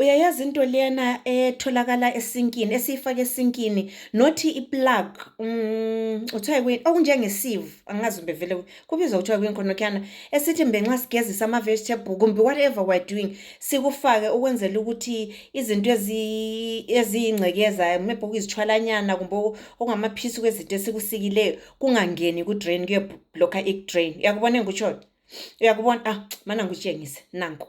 uyayazi into lena etholakala esinkini esiyifake esinkini nothi iplug um kuthiwa yikuyini okunjengesieve angazi kumbe vele kubizwa kuthiwa yikuyini khonokhyana esithi mbe nxa sigezisa ama-vegetable kumbe whatever we're doing sikufake ukwenzela ukuthi izinto eziyingcekeza maybe okuyizithwalanyana kumbe okungamaphisi kwezinto esikusikileyo kungangeni kudrain kuyeblokha idrain uyakubona engikutshoyo uyakubona ah mana ngikutshengise nanku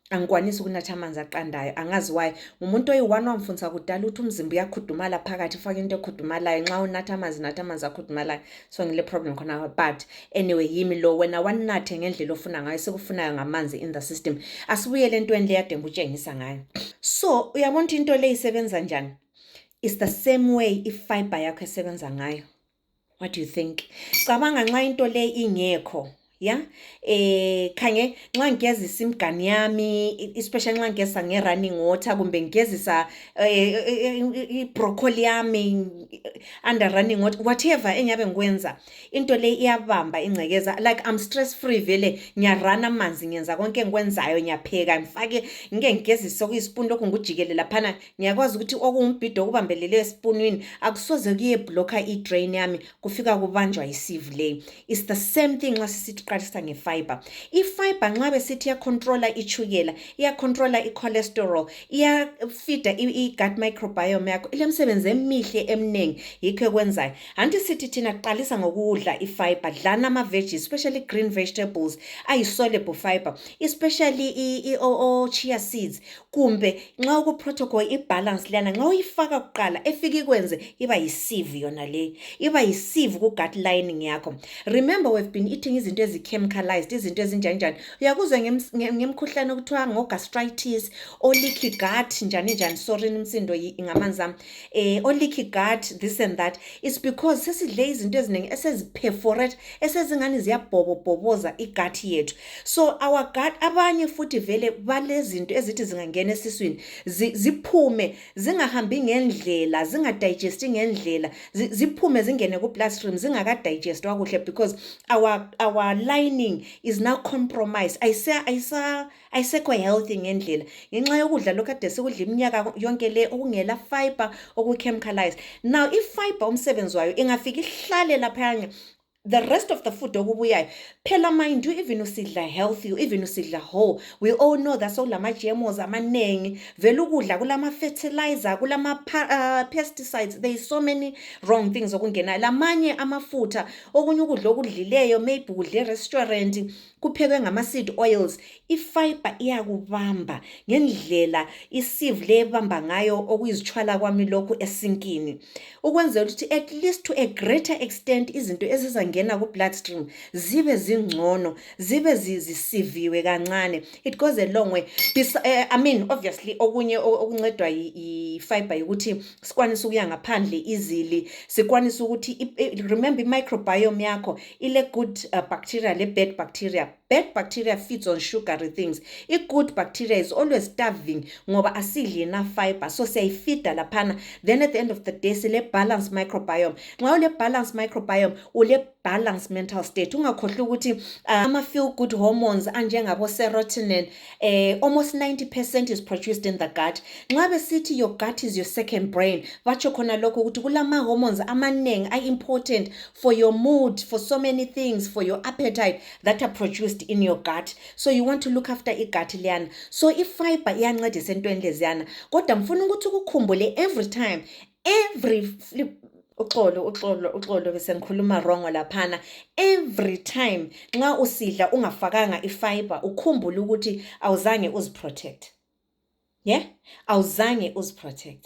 angikwanisi ukunatha amanzi aqandayo angazi wayo ngumuntu oyi-one wamfundisa kudala ukuthi umzimba uyakhudumala phakathi ufake into ekhudumalayo nxa unatha amanzi natha amanzi akhudumalayo so ngile problem khona but anyway yimi lo wena wanathe ngendlela ofuna ngayo sekufunayo ngamanzi in the system asibuyele entweni le yademba utshengisa ngayo so uyabona ukuthi into le isebenza njani is the same way ifiber yakho esebenza ngayo what do you think cabanga nxa into le ingekho ya eh khange nxa ngigezisa imgani yami especially nxa ngigezisa nge running water kumbe ngigezisa eh, eh, eh, i broccoli yami under running water whatever engiyabe ngikwenza into le iyabamba ingcekeza like i'm stress free vele ngiyarana amanzi ngenza konke engikwenzayo ngiyapheka ngifake ngike ngigezise okuyispoon lokhu ngikujikele laphana ngiyakwazi ukuthi okungumbhido okubambelele esipunwini akusoze kuyebhlokha idrain yami kufika kubanjwa yisivu leyi is the same thing nxa sisithi qalisa ngefiber ifiber nxa besithi iyacontrola itshukela iyacontrola icholesterol iyafida i-gut microbiome yakho ilemisebenzi emihle emningi yikho ekwenzayo hanti sithi thina qalisa ngokudla ifiber dlana ama-veggie especially green vegetables ayi-soluble fiber especially i-chia seeds kumbe nxa kuprotocol ibalance leyana nxa uyifaka kuqala efika ikwenze iba yisieve yona leyi iba yisieve kugut lining yakho remember we've been eating izinto ezichemicalized izinto ezinjanjani uyakuzwa ngemkhuhlane okuthiwa ngogastritis oleaky gut njani njani sorry imsindo ngamanzi ami eh oleaky gut this and that is because sesidle izinto eziningi eseziperforate esezingani ziyabhobobhoboza igut yethu so our gut abanye futhi vele balezinto ezithi zingangena esiswini ziphume zingahambi ngendlela zingadigesti ngendlela ziphume zingene ku-bloodstream zingakadigestwa kuhle because our, our lining is now compromised ayisekho healthy ngendlela ngenxa yokudla lokhu ade sikudla iminyaka yonke le okungela fiber okuchemicalized now i-fiber umsebenzi wayo ingafika ihlale laphayana the rest of the food okubuyayo phela mind you even usidla healthy even usidla whole we all know that sokulama-gmos amaningi vele ukudla kulama-fertilizer kulama-pesticides uh, there is so many wrong things okungenayo lamanye amafutha okunye ukudla okudlileyo maybe kudle restaurant kuphekwe ngama-seed oils ifiber iyakubamba ngendlela isieve le ebamba ngayo okuyizitshwala kwami lokhu esinkini ukwenzela ukuthi at least to a greater extent izinto ezizangena ku-blood stream zibe zingcono zibe zisiviwe kancane it goes a long way Bes uh, i mean obviously okunye okuncedwa yifiber yokuthi sikwanise ukuya ngaphandle izili sikwanise ukuthi remember i-microbiome yakho ile good uh, bacteria le bad bacteria bad bacteria feeds on sugary things i good bacteria is always starving ngoba asidli enough fiber so siyayifida laphana then at the end of the day sile balance microbiome nxa ule balance microbiome ule balance mental state ungakhohlwa ukuthi uh, ama feel good hormones anjengabo serotonin eh, almost 90 percent is produced in the gut nxa besithi your gut is your second brain batsho khona lokho ukuthi kulama-hormones amaningi a-important for your mood for so many things for your appetite that are produced in your gut so you want to look after igut liyana so ifiber iyancedisa entweni leziyana kodwa ngifuna ukuthi ukukhumbule every time every flip uxolo uxolo uxolo bese ngikhuluma wrong laphana every time nxa usidla ungafakanga ifiber ukhumbule ukuthi awuzange uziprotect yeah awuzange uziprotect